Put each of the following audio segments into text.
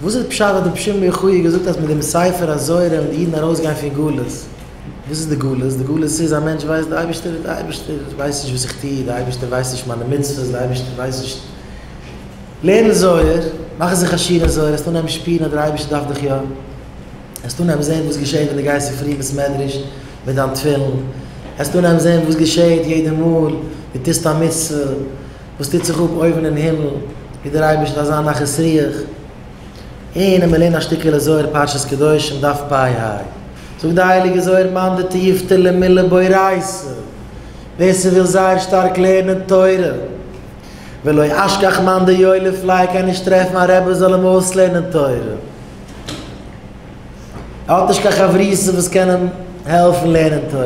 וואס איז פשט אז די פשעים מיוחאי געזאגט אז מיט דעם ספר הזוהר וועלן די אידן ארויס גיין פון גלות? וואס איז די גלות? די גלות איז א מענטש ווייסט די אייבערשטער איז די אייבערשטער ווייסט נישט וואס איך טו, די אייבערשטער ווייסט נישט מיינע מצוות, די אייבערשטער ווייסט נישט, לערן זוהר, מאך זיך עשיר אין זוהר וועסט אנהייבן שפירן אז דער אייבערשטער דארף דיך יא, וועסט אנהייבן זען וואס געשעט ווען די גייסט אין פרי בית מדרש מיט דיין תפילין, וועסט אנהייבן זען וואס געשעט יעדע מאל די טוסט א מצוה. וואס טוט זיך אפ אויבן אין הימל, ווי דער אייבערשטער אזא נחת רוח, און מ'לערנט א שטיקעלע זוהר פרשת קדושים דף פ ה, זאגט די הייליגע זוהר מאן דתיובתא למילה באורייתא, ווער ס'וויל זייער שטארק לערנען תורה, ולא אשכח מאן דיו לפלאי קען נישט טרעפן א רבי זאל אים אויסלערנען תורה, ער האט נישט קיין חברותא וואס קען אים העלפן לערנען תורה.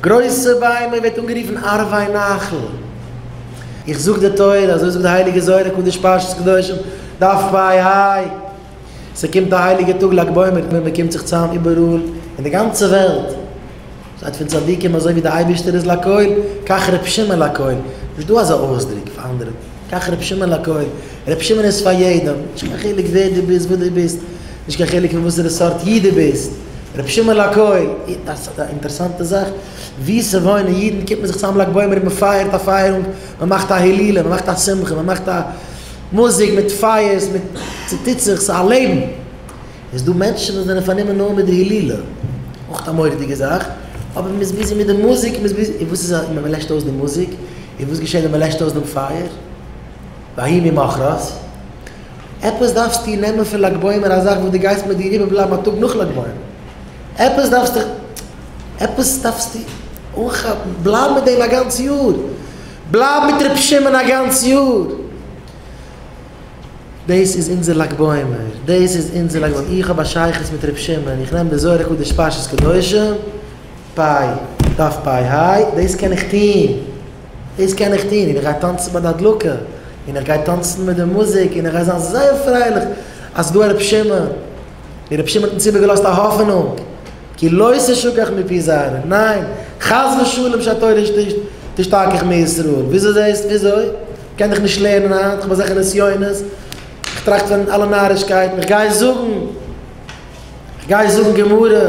גרויסע ביימער ווערט אנגערופן ערבי נחל. איך זאג די תורה, אזוי זאגט די הייליגע זוהר הקדוש פרשת קדושים, דף פי א, ס'קומט די הייליגע טאג לג בעומר ווען מ'קומט זיך צאם איבעראל אין די גאנצע וועלט, שטייט פון צדיקים אזוי ווי די אייבערשטער איז לכל, כך ר' שמעון לכל, נישט דא אזא אויסדרוק פאר אנדערע, כך ר' שמעון לכל, ר' שמעון איז פאר יעדעם, נישט קיין חילוק ווער דו ביסט, וואס דו ביסט, נישט קיין חילוק פון וואסערע סארט איד דו ביסט. רבי שמעון לאקוי, א אינטערסאנטע זאך, ווי ס'וואוינען אידן קומט מען זיך צוזאם לג בעומר און מ'פייערט א פייערונג, מ'מאכט א הילולא, מ'מאכט א שמחה, מ'מאכט א מוזיק מיט פייערס, מיט ס'טוט זיך, ס'איז א לעבן. איז דא מענטשן וואס זענען פארנומען נאר מיט די הילולא, אויך א מורא'דיגע זאך, אבער מ'איז ביזי מיט די מוזיק, מ'איז ביזי, און וואס איז ווען מ'לעשט אויס די מוזיק? און וואס געשעט ווען מ'לעשט אויס דעם פייער? ויהי ממחרת, עפעס דארפסטו נעמען פון לג בעומר א זאך וואס דו גייסט מיט דיר איבער בלייבן א טאג נאך לג בעומר, עפעס דארפסטו עפעס דארפסטו אנכאפן, בלייב מיט דעם א גאנץ יאר, בלייב מיט ר' שמעון א גאנץ יאר, דאס איז אונזער לג בעומר, דאס איז אונזער לג בעומר, איך האב א שייכות מיט ר' שמעון, איך נעם די זוהר הקדוש פרשת קדושים, פיי, דף פיי היי, דאס קען איך טון. דאס קען איך טון, און איך גיי טאנצן ביי די הדלקה, און איך גיי טאנצן מיט די מוזיק, און איך גיי זיין זייער פרייליך אז ס'דא א רבי שמעון, און רבי שמעון האט אונז איבערגעלאזט א האפענונג, כי לא תשכח מפי זרעו, ניין, חס ושלום שהתורה תשתכח מישראל, וויאזוי זעהסט, וויאזוי? כ'קען דיך נישט לערנען היינט, כ'האב אזעלכע נסיונות, כ'טראכט פון אלע נארישקייטן, כ'גיי זאגן, כ'גיי זאגן גמרא.